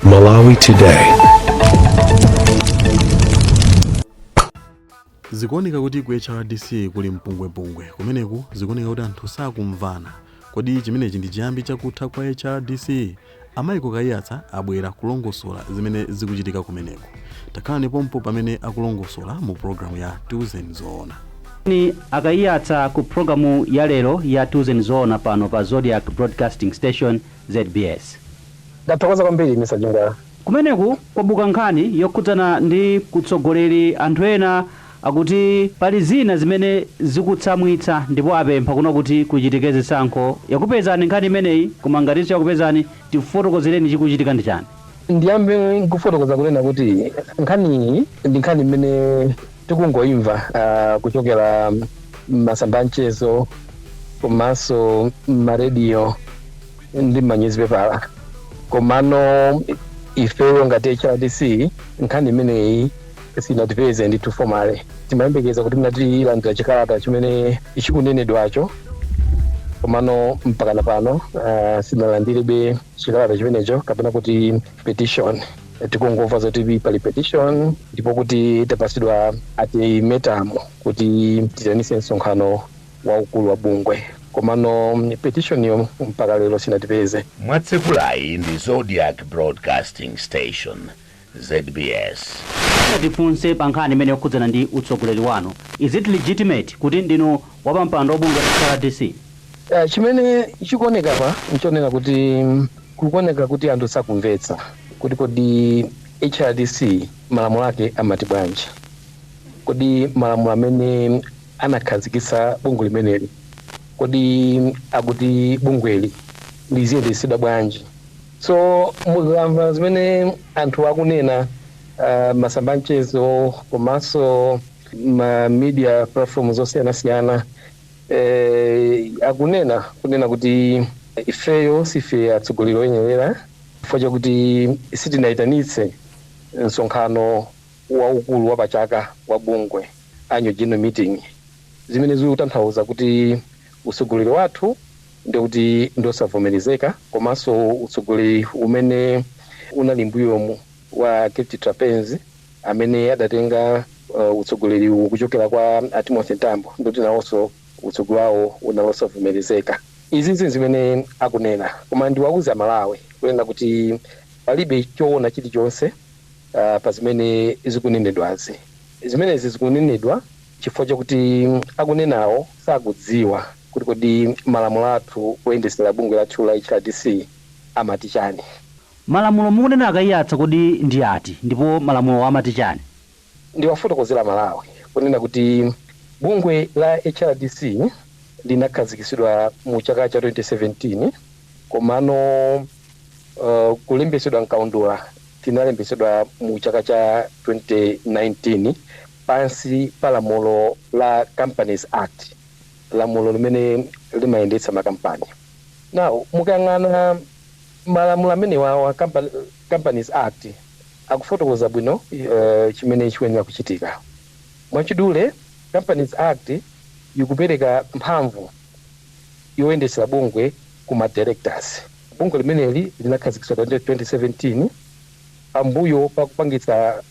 Malawi Today. zikuoneka kuti ku hrdc kuli mpungwepungwe kumeneku zikuoneka kuti anthu sakumvana kodi chimenechi ndi chiyambi chakutha kwa hrdc a Michael Kaiyatsa abwera kulongosola zimene zikuchitika kumeneku takhalani pompo pamene akulongosola mu programu ya tiuzeni zoona ni a Kaiyatsa ku programu ya lero ya tiuzeni zoona pano pa zodiak broadcasting station zbs. Ndathokoza kwambiri Mr Jindal. Kumeneku kwabuka nkhani yokhudzana ndi utsogoleri anthu ena akuti pali zina zimene zikutsamwitsa ndipo apempha kunena kuti kuchitike zisankho yakupezani nkhani imeneyi koma ngati siyakupezani tifotokozereni chikuchitika ndi chani. Ndiyambe nkufotokoza kunena kuti nkhaniyi ndi nkhani imene tikungoimva uh, kuchokera m'masamba amchezo komanso m'marediyo ndi m'manyuzipepala komano ifeyo ngati hrdc nkhani imeneyi sinatipeze ndithu formally timayembekeza kuti mnatilandira chikalata chimene chikunenedwacho komano mpakana pano uh, sinalandirebe chikalata chimenecho kapena kuti petition tikungomva zoti pali petition ndipo kuti tapasidwa ultimatum kuti tiitanise msonkhano waukulu wa bungwe komano petitioniyo mpaka lero sinatipeze. mwatsekulayi ndi zodiak broadcasting station zbs. Tifunse pa nkhani imene yokhudzana ndi utsogoleri wanu. Is it legitimate kuti ndinu wapampando wa bungwe la HRDC? Chimene chikuoneka apa nchonena kuti kukuoneka kuti anthu sakumvetsa kuti kodi HRDC malamulo ake amati bwanji. Kodi malamulo amene anakhazikitsa bungwe limeneli kodi akuti bungweli liziyendetsedwa bwanji. So mukamva zimene anthu akunena uh, masamba amchezo komanso ma media platform zosiyanasiyana eh, akunena kunena kuti ifeyo sife atsogoleri oyenerera chifukwa chakuti sitinayitanitse msonkhano waukulu wa pachaka wa bungwe annual general meeting zimene zikutanthauza kuti utsogoleri wathu ndikuti ndi osavomerezeka komanso utsogoleri umene unali mbuyomu wa Gift Trapence amene adatenga utsogoleriwu kuchokera kwa a Timothy Mtambo ndikuti nawonso utsogoleri wawo unali osavomerezeka. Izizi nzimene akunena koma ndiwauze a Malawi kunena kuti palibe choona chilichonse pa zimene zikunenedwazi. Zimenezi zikunenedwa chifukwa chakuti akunenawo sakudziwa kuti kodi malamulo athu oyendetsera bungwe lathu la HRDC amati chani. Malamulo mukunena a Kaiyatsa kodi ndi ati ndipo malamulowo amati chani? Ndiwafotokozere aMalawi kunena kuti bungwe la HRDC linakhazikitsidwa mu chaka cha 2017 komano kulembetsedwa mkaundula tinalembetsedwa mu chaka cha 2019. Pansi pa lamulo la Companies Act, lamulo limene limayendetsa makampani. Now, mukayang'ana malamulo amenewawa, Companies Act, akufotokoza bwino chimene chikuyenera kuchitika. Mwachidule, Companies Act ikupereka mphamvu yoyendetsera bungwe ku ma directors. Bungwe limeneli linakhazikitsidwa 2017 pambuyo pa kupangitsa.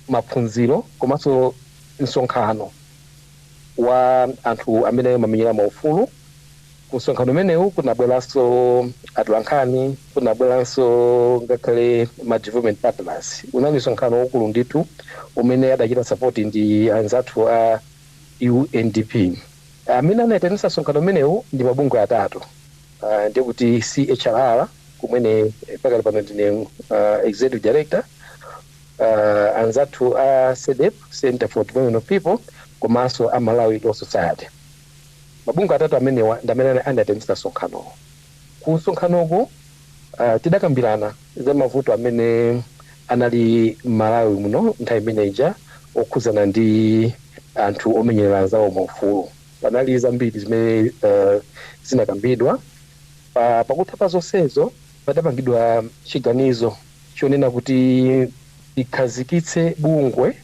maphunziro komanso msonkhano wa anthu amene amamenyera maufulu. Ku msonkhano umenewu kunabweranso atolankhani, kunabweranso ngakhale ma development partners. Unali msonkhano waukulu ndithu umene adachita support ndi anzathu a UNDP. Amene anaitanitsa msonkhano umenewu ndi mabungwe atatu, ah, ndiye kuti CHRR kumene pakali pano ndine, ah, Executive Director, anzathu a Cedep, Centre for Development of People, komanso a Malawi Law Society. Mabungwe atatu amenewa ndi amene anaitanitsa msonkhanowo. Ku msonkhanoko tidakambirana za mavuto amene anali m'Malawi muno nthawi imene ija okhudzana ndi anthu omenyerera anzawo maufulu. Panali zambiri zimene zinakambidwa. Pakutha pa zonsezo padapangidwa chiganizo. chonena kuti likhazikitsidwe bungwe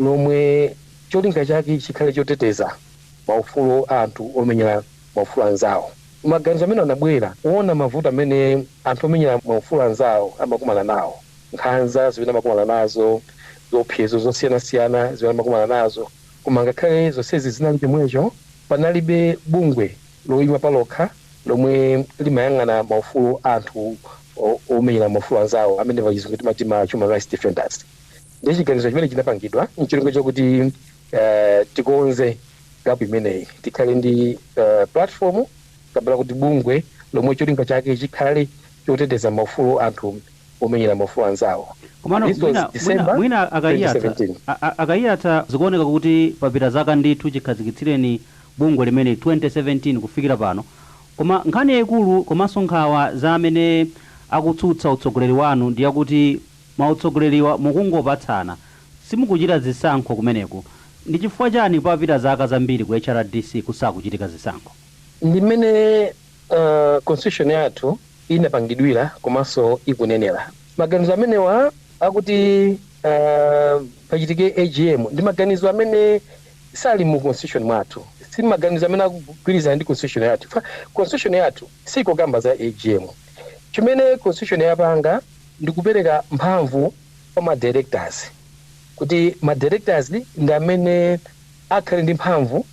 lomwe cholinga chake chikhale choteteza maufulu a anthu omenyera maufulu anzawo. Maganizo amenewa anabwera poona mavuto amene anthu omenyera maufulu anzawo amakumana nawo, nkhanza zimene amakumana nazo, ziopsezo zosiyanasiyana zimene amakumana nazo. Koma ngakhale zonsezi zinali chomwecho, panalibe bungwe loima palokha lomwe limayang'ana maufulu a anthu omenyera maufulu anzawo amene pa chizungu timati ma human rights defenders. Ndiye chiganizo chimene chinapangidwa n'cholinga chakuti tikonze gap imeneyi, tikhale ndi platform kapena kuti bungwe lomwe cholinga chake chikhale choteteza maufulu a anthu omenyera maufulu anzawo. Komano This was mwina, mwina, December mwina a- a Kaiyatsa 2017. a- a- a Kaiyatsa zikuoneka kuti papita zaka ndithu chikhazikitsireni bungwe limene 2017 kufikira pano koma nkhani yaikulu komanso nkhawa za amene akutsutsa utsogoleri wanu ndi yakuti mautsogoleriwa mukungopatsana simukuchita zisankho kumeneku ndi chifukwa chani papita zaka zambiri ku hrdc kusakuchitika zisankho? Ndi mmene constitution yathu inapangidwira komanso ikunenera. Maganizo amenewa akuti pachitike agm ndi maganizo amene sali mu constitution mwathu, si maganizo amene akugwirizana ndi constitution yathu. Constitution yathu siikukamba za agm. Chimene constitution yapanga ndi kupereka mphamvu kwa ma directors kuti ma directors ndi amene akhale ndi mphamvu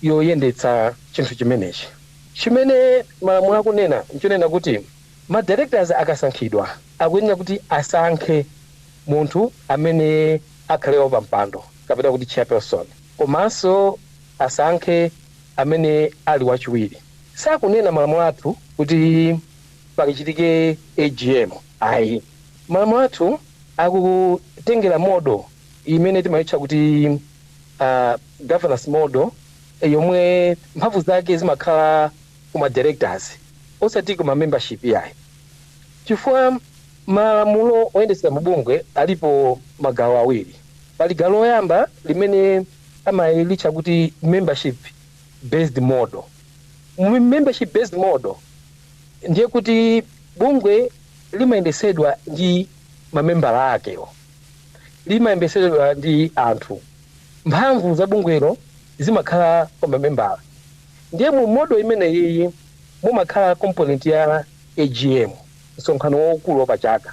yoyendetsa chinthu chimenechi. Chimene malamulo akunena n'chonena kuti ma directors akasankhidwa akuyenera kuti asankhe munthu amene. akhale wapampando kapena kuti chairperson komanso asankhe amene ali wachiwiri. Sakunena malamulo athu kuti pakachitike agm ayi. Malamulo athu akutengera model imene timaitcha kuti governance model yomwe mphamvu zake zimakhala kuma directors osati kuma membership iyayi chifukwa. Malamulo oyendetsera mabungwe alipo magawo awiri. Pali gawo loyamba limene amalitcha kuti membership based model. Mu membership based model ndiye kuti bungwe limayendetsedwa ndi mamembala akewo. Limayendetsedwa ndi anthu. Mphamvu za bungwelo zimakhala kwa mamembala. Ndiye mu model imeneyiyi mumakhala component ya AGM. msonkhano waukulu wapachaka.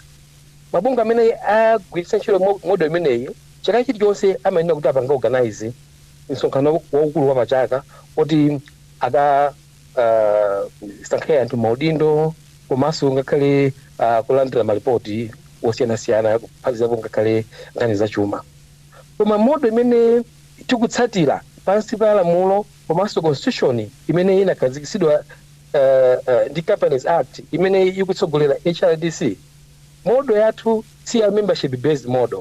Mabungwe amene agwiritsa ntchito model imeneyi chaka chilichonse amayenera kuti apange organize msonkhano waukulu wapachaka koti akasankhe anthu maudindo komanso ngakhale kulandira malipoti osiyanasiyana kuphatikizapo ngakhale nkhani zachuma. Koma model imene tikutsatira pansi pa lamulo komanso constitution imene inakhazikitsidwa. ndi Companies Act imene ikutsogolera HRDC, Model yathu si ya membership based model.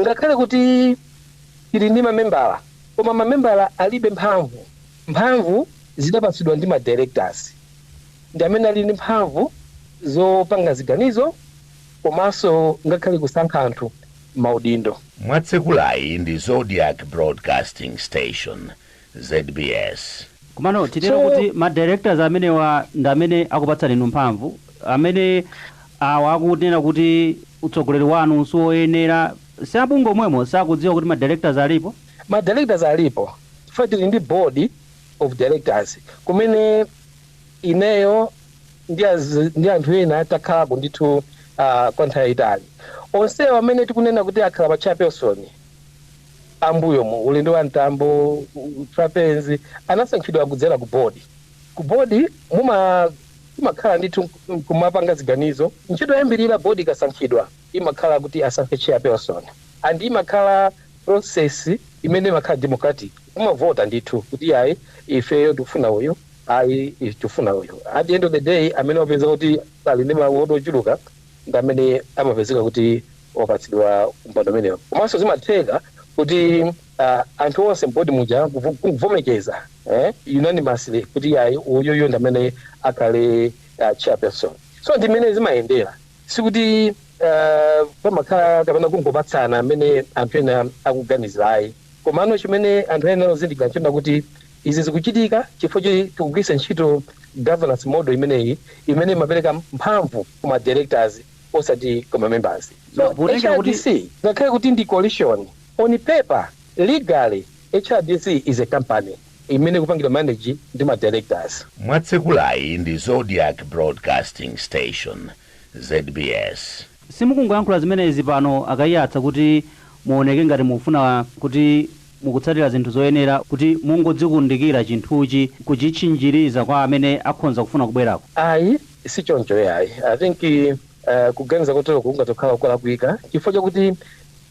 Ngakhale kuti ili ndi mamembala koma mamembala alibe mphamvu. Mphamvu zidapatsidwa ndi ma Directors ndi amene ali ndi mphamvu zopanga ziganizo komanso ngakhale kusankha anthu m'maudindo. mwatsekulayi ndi Zodiak Broadcasting Station zbs. Komano titero So. kuti ma directors amenewa ndi amene akupatsani inu mphamvu? Amene awa akunena kuti utsogoleri wanu siwoyenera, si a bungwe omwemo sakudziwa kuti ma directors alipo? Ma directors alipo chifukwa tili ndi board of directors kumene ineyo ndi az ndi anthu ena takhalako ndithu uh, kwa nthawi yayitali. Onsewo amene tikunena kuti akhala pa chairperson, a m'mbuyomu, olo ndi a Mtambo, Trapence, anasankhidwa kudzera ku Board. Ku Board mumakhala ndithu nkumapanga ziganizo. Ntchito yoyambirira Board ikasankhidwa imakhala kuti asankhe Chairperson and imakhala process imene imakhala democratic. Kumavota ndithu kuti ayi ifeyo tikufuna uyu, ayi ife tikufuna uyu. At the end of the day amene wapeza kuti ali ndi mavoti ochuluka ndi amene amapezeka kuti wapatsidwa mpando umenewo komanso zimatheka kuti uh, anthu onse m'board muja kuvomekeza eh, unanimously kuti yayi uyuyu ndi amene akhale uh, chairperson so ndi mmene zimayendera sikuti uh, pamakhala kapena kungopatsana amene anthu ena akuganizira ayi Komano chimene anthu ayenera kuzindikira n'chonena kuti izi zikuchitika chifukwa choti tikugwiritsa ntchito governance model imeneyi imene imapereka mphamvu ku ma directors osati ku ma members. So, HRDC ngakhale kuti ndi coalition, on paper, legally, HRDC is a company imene ikupangidwa manage ndi ma directors. Mwatsekulayi ndi Zodiak Broadcasting Station, zbs. Simukungoyankhula zimenezi pano a Kaiyatsa kuti muoneke ngati mukufuna kuti mukutsatira zinthu zoyenera kuti mungodzikundikira chinthuchi kuchitchinjiriza kwa amene akhonza kufuna kubwerako. Ayi sichoncho iyayi. I think kuganiza koteroku kungathe kukhala kulakwika chifukwa chakuti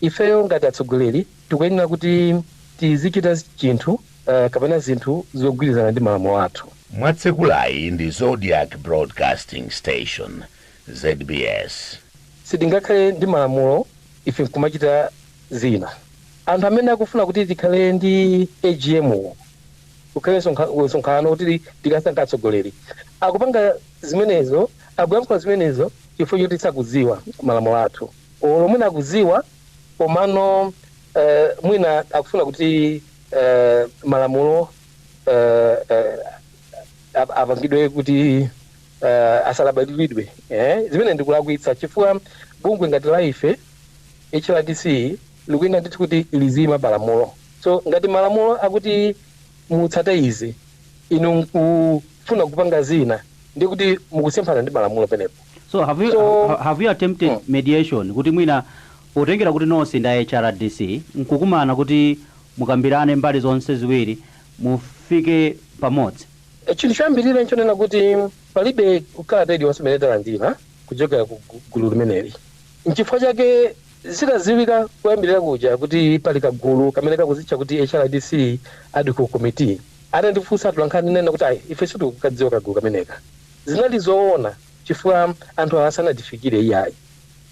ifeyo ngati atsogoleri tikuyenera kuti tizichita chinthu kapena zinthu zogwirizana ndi malamulo athu. mwatsekulayi ndi Zodiak Broadcasting Station zbs. Sitingakhale ndi malamulo ife nkumachita zina. Anthu amene akufuna kuti tikhale ndi agm kukhale msonkhano kuti tikasankhe atsogoleri akupanga zimenezo, akuyankhula zimenezo chifukwa choti sakudziwa malamulo athu olo mwina akudziwa komano mwina akufuna kuti malamulo apangidwe kuti uh, asalabadilidwe eh? zimene ndikulakwitsa chifukwa bungwe ngati la ife HRDC likuyenera ndithu kuti liziima pamalamulo so ngati malamulo akuti mutsate izi inu mkufuna kupanga zina ndi kuti mukusemphana ndi malamulo penepo so have you, So- ha- have you attempted Mm. mediation kuti mwina potengera kuti nonse ndi a hrdc nkukumana kuti mukambirane mbali zonse ziwiri mufike pamodzi Chinthu choyambirira n'chonena kuti palibe kalata iliyonse imene talandira kuchokera ku gulu limeneli. N'chifukwa chake zitadziwika koyambirira kuja kuti pali kagulu kamene kakudzitcha kuti HRDC Ad Hoc Committee, atandifunsa atolankhani ndinanena kuti, Ayi, ife sitikukadziwa kagulu kameneka. Zinali zoona chifukwa anthu awa sanatifikire iyayi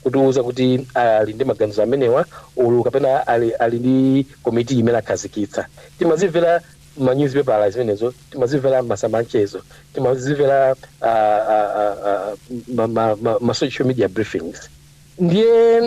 kutiuza kuti ali ndi maganizo amenewa olo kapena ali ndi komiti imene akhazikitsa. Timazimvera m'manyuzipepala zimenezo timazimvera m'masamba anchezo timazimvera uh, uh, uh, uh, ma, ma, ma, ma social media briefings ndiye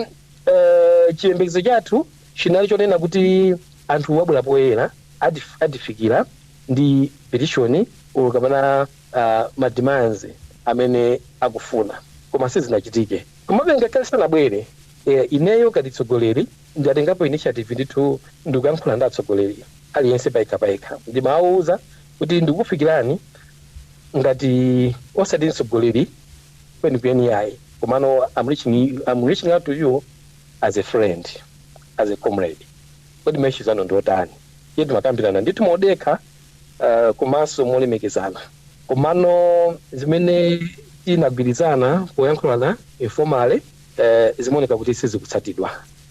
uh, chiyembekezo chathu chinali chonena kuti anthuwa abwera poyera atif- atifikira ndi petition olo kapena uh, mademands amene akufuna koma sizinachitike komabe ngakhale sanabwere eh, ineyo ngati mtsogoleri Ndatengapo initiative ndithu ndikuyankhula ndi atsogoleri aliyense payekha payekha ndimawauza kuti ndikukufikirani ngati osati mtsogoleri kwenikweni iyayi komano I'm reaching you I'm reaching out to you as a friend as a comrade kodi ma issues anu ndiotani ndiye timakambirana ndithu modekha komanso molemekezana komano zimene tinagwirizana poyankhulana informally. eeh zimaoneka kuti sizikutsatidwa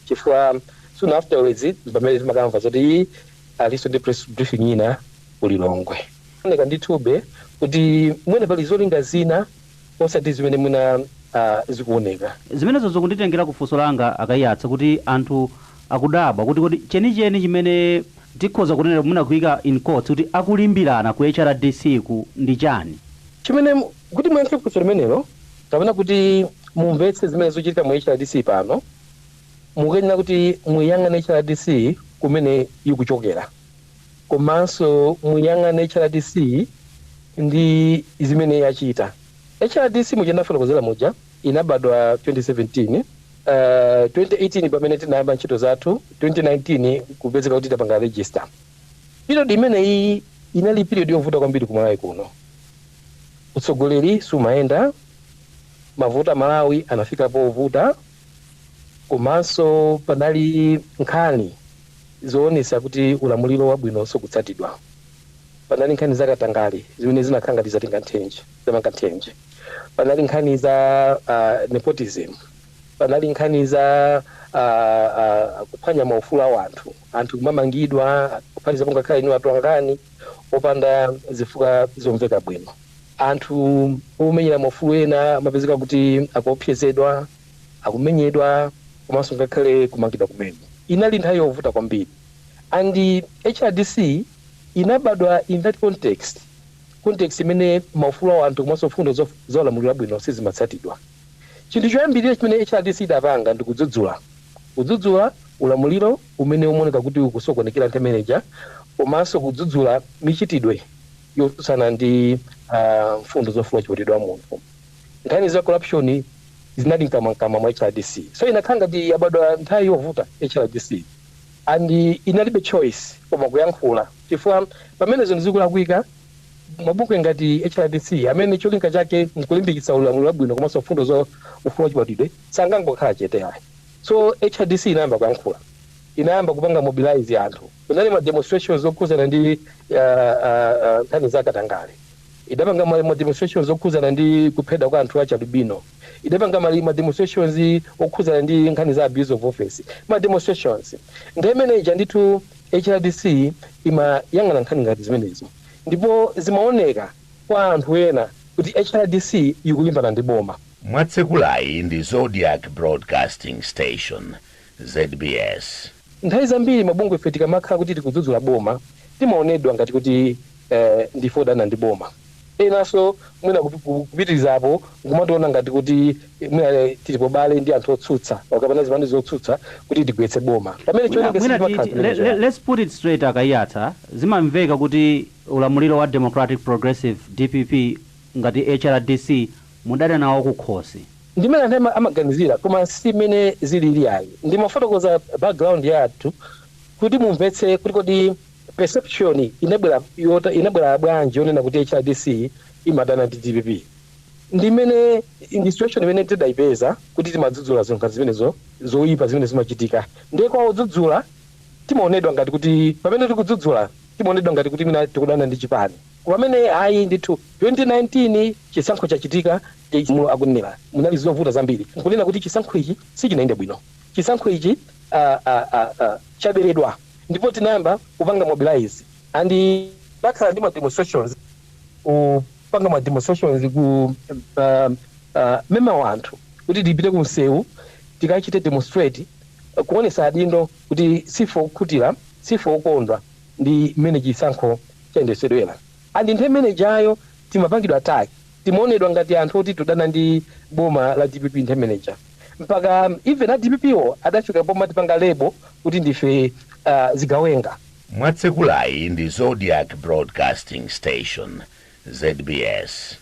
chifukwa soon afterwards mpamene timakamva zoti iih alinso ndi press briefing ina ku Lilongwe. Zikuoneka ndithube kuti mwina pali zolinga zina osati zimene mwina zikuoneka. Zimenezo zikunditengera ku funso langa a Kaiyatsa kuti anthu akudabwa kuti kodi chenicheni chimene tikhoza kunena mwina kuika in quotes kuti akulimbirana ku HRDC ku ndi chani? Chimene Kuti muyankhe funso limenelo, kapena kuti mumvetse zimene zikuchitika mu HRDC pano, mukuyenera kuti muiyang'ane HRDC kumene ikuchokera komanso muiyang'ane HRDC ndi zimene yachita. HRDC muja ndafotokozera muja inabadwa 2017, uh, 2018 pamene tinayamba ntchito zathu, 2019 kupezeka kuti tapanga register. Period imeneyiyi inali period yovuta kwambiri ku Malawi kuno. Utsogoleri sumayenda bwino, mavuto a Malawi anafika povuta komanso panali nkhani zoonetsa kuti ulamuliro wabwino sukutsatidwa. Panali nkhani za katangale zimene zinakhala ngati zatenga nthenje, zamanga nthenje. Panali nkhani za nepotism, panali nkhani za kuphwanya maufulu a wanthu. anthu kumamangidwa kuphatizapo ngakhale inu atolankhani opanda zifukwa zomveka bwino. Anthu omenyera maufulu ena amapezeka kuti akuopsezedwa, akumenyedwa komanso ngakhale kumangidwa kumene. Inali nthawi yovuta kwambiri and hrdc inabadwa in that context, context imene maufulu a anthu komanso mfundo za ulamuliro wabwino sizimatsatidwa. Chinthu choyambirira chimene HRDC idapanga ndi kudzudzula. Kudzudzula ulamuliro umene umaoneka kuti ukusokonekera nthawi imene ija komanso kudzudzula michitidwe yotsutsana ndi mfundo za ufulu wachibadwidwe wa munthu. Nkhani za corruption zinali mkamwamkamwa mwa HRDC. So inakhala ngati yabadwa nthawi yovuta HRDC and inalibe choice koma kuyankhula chifukwa pamene zinthu zikulakwika, Mabungwe ngati HRDC, amene cholinga chake n'kulimbikitsa ulamuliro wabwino komanso mfundo za ufulu wachibadwidwe, sangangokhala chete ayi. So, HRDC inayamba kuyankhula. Inayamba kupanga mobilize anthu. Kunali ma demonstrations okhudzana ndi nkhani za katangale. Idapanga ma demonstrations okhudzana ndi kuphedwa kwa anthu achialubino. idapanga ma ma demonstrations okhudzana ndi nkhani za abuse of office, ma demonstrations. Nthawi imene ija ndithu HRDC imayang'ana nkhani ngati zimenezo ndipo zimaoneka kwa anthu ena kuti HRDC ikulimbana ndi boma. Mwatsekulayi ndi Zodiak Broadcasting Station, zbs. Nthawi zambiri mabungwe ife tikamakhala kuti tikudzudzula boma timaonedwa ngati kuti ndife odana ndi boma, enanso mwina kupitirizapo n'kumationa ngati kuti mwina tili paubale ndi anthu otsutsa kapena zipani zotsutsa kuti tigwetse boma pamene chionenge let's put it straight a Kaiyatsa, zimamveka kuti ulamuliro wa Democratic Progressive, dpp, ngati HRDC mudadana nawo kukhosi. Ndi mmene anthu ena amaganizira koma si mmene zilili ayi. Ndimafotokoza background yathu kuti mumvetse kuti kodi perception inabwera bwanji yonena kuti HRDC imadana ndi dpp. Ndi mmene ndi situation imene tidaipeza kuti timadzudzula zinthu zimenezo zoipa zimene zimachitika. Ndiye kwa odzudzula timaonedwa ngati kuti pamene tikudzudzula timaonedwa ngati kuti mwina tikudana ndi chipani. Pamene ayi ndithu 2019 chisankho chachitika mulu akunena munali zovuta zambiri nkunena kuti chisankho ichi sichinayende bwino chisankho ichi aah chaberedwa ndipo tinayamba kupanga mobilize and tinakhala ndi ma demonstrations kupanga ma demonstrations ku aah mema anthu kuti tipite ku msewu tikachite demonstrate kuonesa adindo kuti siife okhutira siife okondwa ndi mmene chisankho chayendetsedwera and nthawi imenejayo timapangidwa attack timaonedwa ngati anthu oti tikudana ndi boma la dpp nthawi imeneja mpaka even a dpp wo adafika pomatipanga label kuti ndife zigawenga. Mwatsekulayi ndi Zodiak Broadcasting Station, zbs.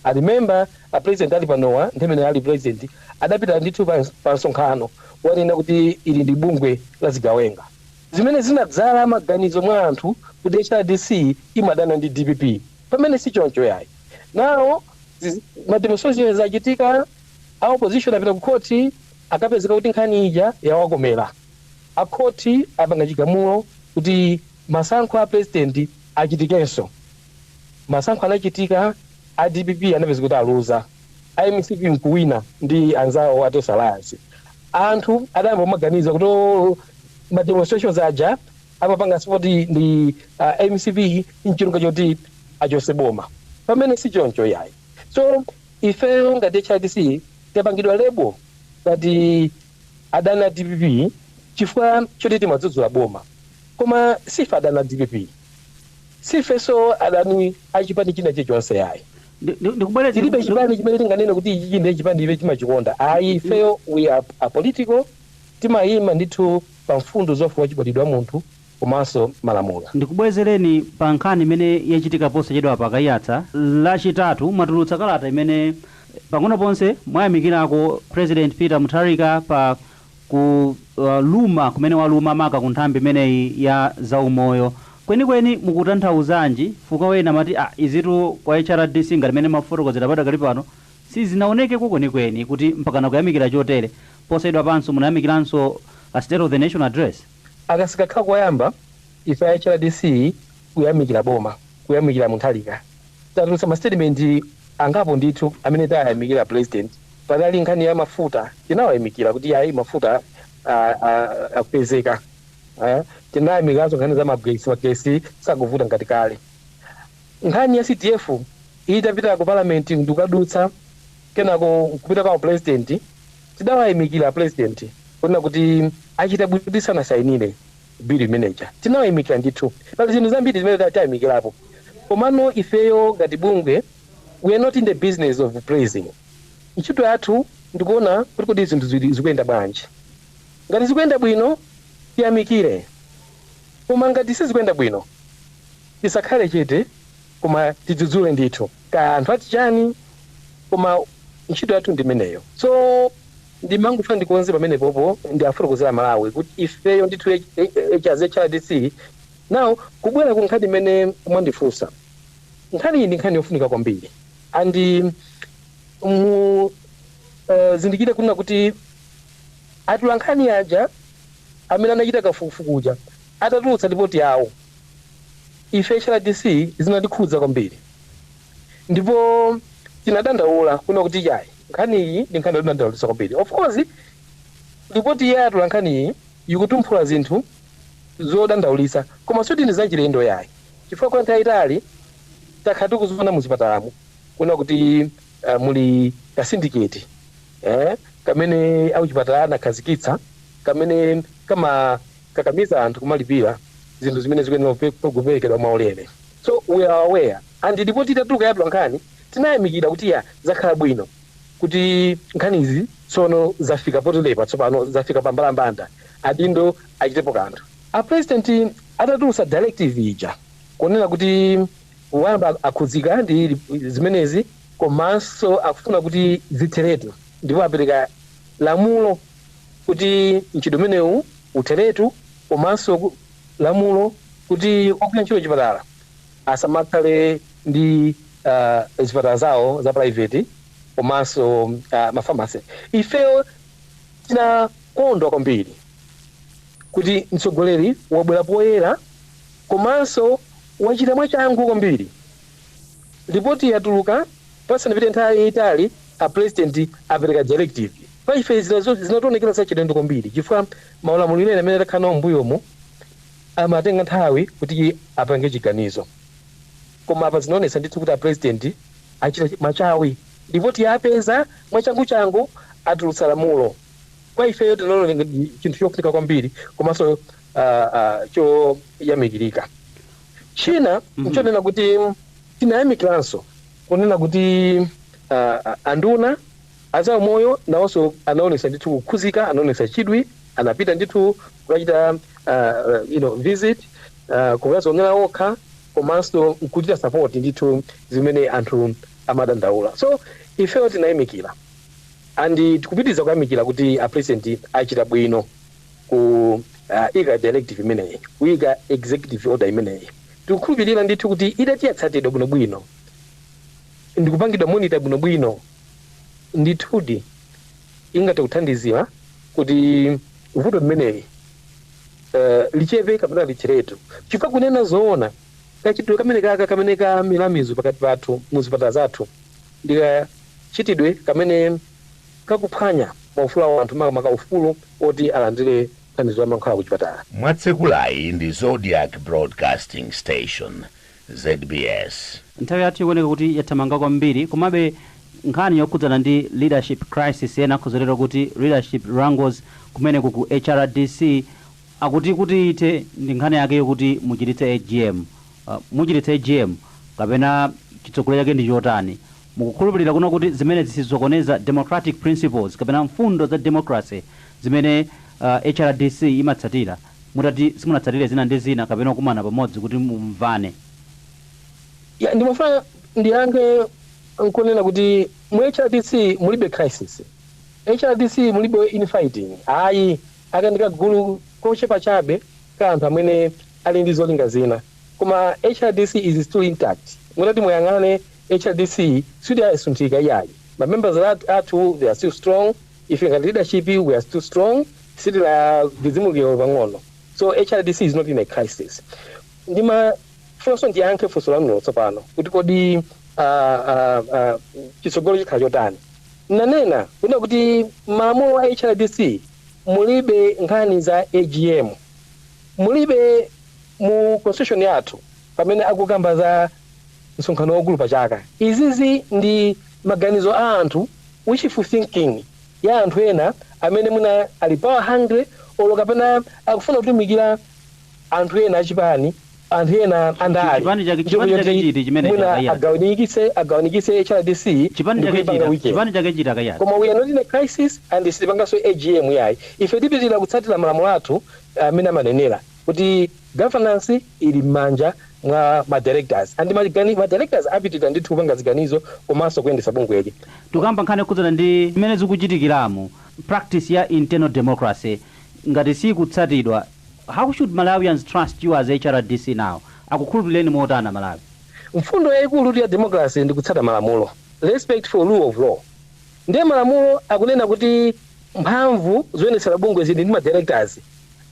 I remember a president ali panowa nthawi imene ali president adapita ndithu pa msonkhano kukanena kuti ili ndi bungwe la zigawenga. zimene zinadzala maganizo mwa anthu kuti hrdc imadana ndi dpp pamene sichoncho yayi. Now ma demonstrations achitika a opposition apita ku court akapezeka kuti nkhani ija yawakomela a court apanga chigamulo kuti masankho a president achitikenso. Masankho anachitika a dpp anapezeka kuti aluza. a mcp nkuwina ndi anzawo a tonse alliance anthu adayamba kumaganiza kuti "Oh, ma demonstrations aja amapanga support ndi uh, mcp ncholinga choti achotse boma pamene si choncho yayi so ifeyo ngati hrdc tapangidwa lebo ngati adani a dpp chifukwa choti timadzudzula boma koma sife adani a dpp sifenso adani achipani china chilichonse yayi Ndi- ndi- Ndikubwereza tilibe ndiku- chipani chimene tinganene kuti ichichi nde chipani ife timachikonda ayi ifeyo we are apolitical timayima ndithu pa mfundo za ufulu wachibadwidwe wa munthu komanso malamulo Ndikubwezereni pa nkhani imene yachitika posachedwapa a Kaiyatsa lachitatu mwatulutsa kalata imene pang'ono ponse mwayamikirako President Peter Mutharika pa kuluma kumene waluma maka ku nthambi imeneyi ya za umoyo kwenikweni mukutanthauzanji chifukwa ena amati ah izitu kwa HRDC ngati mmene mwafotokozera padakali pano sizinaonekeko kwenikweni kuti mpakana kuyamikira chotere posachedwapanso munayamikiranso state of the nation address? Aka sikakhala koyamba ife a HRDC Kuyamikira boma, kuyamikira Mutharika. Tatulutsa ma statement angapo ndithu amene tayamikira president. Panali nkhani ya mafuta, tinawayamikira kuti yayi mafuta akupezeka. Tinayamikiranso nkhani za magetsi, magetsi sakuvuta ngati kale. Nkhani ya CDF itapita ku parliament ndikukadutsa kenako nkupita kwa a president, tidawayamikira apresident kunena kuti achita bwino kuti sanasainire. Bill imene ija tinawayamikira ndithu. Pali zinthu zambiri zimene tayamikirapo. Komano ifeyo ngati bungwe we are not in the business of praising. Ntchito yathu ndi kuona kuti kodi zinthu zikuyenda bwanji. Ngati zikuyenda bwino tiyamikire. Koma ngati sizikuyenda bwino tisakhale chete koma tidzudzule ndithu. Kaya anthu ati chani koma ntchito yathu ndi imeneyo. So. Ndimangofuna ndikonze pamenepopo ndiafotokozere a Malawi kuti ifeyo ndithu as hrdc now kubwera ku nkhani imene mwandifunsa, nkhaniyi ndi nkhani yofunika kwambiri and muzindikire kunena kuti atolankhani aja amene anachita kafukufuku uja atatulutsa lipoti yawo ife hrdc zinatikhudza kwambiri. ndipo tinadandaula kuna kuti yayi nkhani iyi ndi nkhani yodandaulitsa kwambiri of course ripoti ya atolankhani iyi ikutumphula zinthu zodandaulitsa koma suti ndi zachilendo yayi chifukwa kwa nthawi yaitali takhala tikuziona muzipatalamu kuna kuti uh, muli kasindiketi eh, kamene akuchipatala anakhazikitsa kamene kamakakamiza anthu kumalipira zinthu zimene zikuyenera kupe- kuperekedwa mwaulere so we are aware and report itatuluka ya atolankhani tinayamikira kuti ya zakhala bwino kuti nkhanizi tsono zafika poterepa tsopano zafika pa mbalambanda adindo achitepo kanthu a president atatulutsa directive ija kunena kuti wamva akhudzika ndi zimenezi komanso akufuna kuti zitheretu ndipo apereka lamulo kuti mchitidwe umenewu utheretu komanso ku- lamulo kuti ogwira ntchito m'chipatala asamakhale ndi zipatala zawo za private komanso ma pharmacy. Ifeyo tinakondwa kwambiri kuti mtsogoleri wabwera poyera komanso wachita mwachangu kwambiri. Lipoti yatuluka pasanapite nthawi yaitali a president apereka directive. Kwa ife zinationekera zachilendo kwambiri chifukwa Maulamuliro ena amene takhala nawo m'mbuyomu amatenga nthawi kuti apange chiganizo koma apa zinaonetsa ndithu kuti a President achita machawi lipoti apeza mwachanguchangu atulutsa lamulo kwa ifeyo tinaliona ngati chinthu chofunika kwambiri komanso choyamikirika. China nchonena kuti tinayamikiranso kunena kuti anduna. A zaumoyo nawonso anaonetsa ndithu kukhuzika, anaonetsa chidwi, anapita ndithu kukachita you know, visit, kukazionera okha komanso nkuchita support ndithu zimene anthu amadandaula. So ifeyo tinayamikira and tikupitiriza kuyamikira kuti a President achita bwino kuyika directive imeneyi, kuyika executive order imeneyi. Tikukhulupirira ndithu kuti itati yatsatidwa bwinobwino ndikupangidwa monitor bwinobwino, ndithudi ingathe kuthandizira kuti vuto limeneli eh, lichepe kapena litheretu chifukwa kunena zoona kachitidwe kameneka kamene kamila mizu pakati pathu mu zipatala zathu ndi kachitidwe kamene kakuphwanya maufulu a anthu makamaka ufulu woti alandire thandizo la mankhwala ku chipatala mwatsekulayi ndi zodiac broadcasting station zbs. Nthawi yathu ikuoneka kuti yathamanga kwambiri, komabe nkhani yokhudzana ndi leadership crisis ena akhoza kutero kuti leadership wrangles kumeneko ku HRDC akuti kuti ithe ndi nkhani yake yokuti muchititse AGM. Muchititse AGM kapena chitsogolo chake ndi chotani? Mukukhulupirira kunena kuti zimenezi sizisokoneza democratic principles kapena mfundo za democracy zimene HRDC imatsatira? mutati simunatsatire zina ndi zina kapena kukumana pamodzi kuti mumvane. Ya ndimafuna ndiyankhe nkunena kuti mu HRDC mulibe crisis, HRDC mulibe in fighting ayi, aka ndi kagulu kochepa chabe ka anthu amene ali ndi zolinga zina koma HRDC is still intact, mutati muyang'ane HRDC siyidasunthike iyayi, ma members athu they are still strong. Ife ngati leadership we are still strong sitinadzidzimuke olo pang'ono so hrdc is not in a crisis. Ndimafunanso ndiyankhe funso lanuro tsopano kuti kodi uh, uh, uh, chitsogolo chikhala chotani? Nnanena kunena kuti mmalamulo a hrdc mulibe nkhani za agm, mulibe mu constitution yathu. pamene akukamba za msonkhano waukulu pa chaka. Izizi ndi maganizo a anthu, wishful thinking ya anthu ena amene mwina ali power hungry olo kapena akufuna kutumikira anthu ena a chipani, anthu ena a ndale ndi cholinga choti mwina agawanikitse agawanikitse hrdc ndi kuipanga weaken. Koma we are not in a crisis and sitipanganso agm iyayi. Ife tipitira kutsatira malamulo athu amene amanenera kuti. Governance ili mmanja mwa ma directors and ma directors apitilira ndithu kupanga ziganizo komanso kuyendetsa bungweli. Tikukamba nkhani yokhudzana ndi mmene zikuchitikiramo, practice ya internal democracy ngati siikutsatidwa, how should Malawians trust you as HRDC now? Akukhulupilireni motani a Malawi? Mfundo yaikulutu ya democracy ndi kutsata malamulo, respect for rule of law, ndiye malamulo akunena kuti mphamvu zoyendetsera bungwe zili ndi ma directors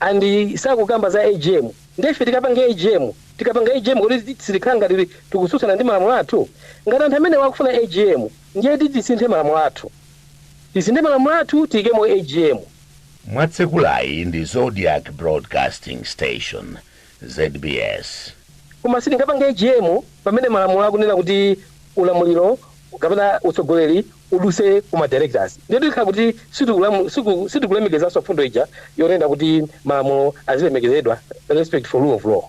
and sakukamba za agm nde ife tikapange agm? tikapanga agm kodi sitikhala ngati tikusutsana ndi malamulo athu? ngati anthu amenewa akufuna agm ndiye tisinthe malamulo athu tisinthe malamulo athu tiyikemo agm. mwatsekulayi ndi zodiak broadcasting station zbs. Koma sitingapange agm pamene malamulo akunena kuti ulamuliro kapena utsogoleri uduse ku ma directors ndiye tikhala kuti sitikulemekezanso mfundo ija yonena kuti malamulo azilemekezedwa respect for rule of law.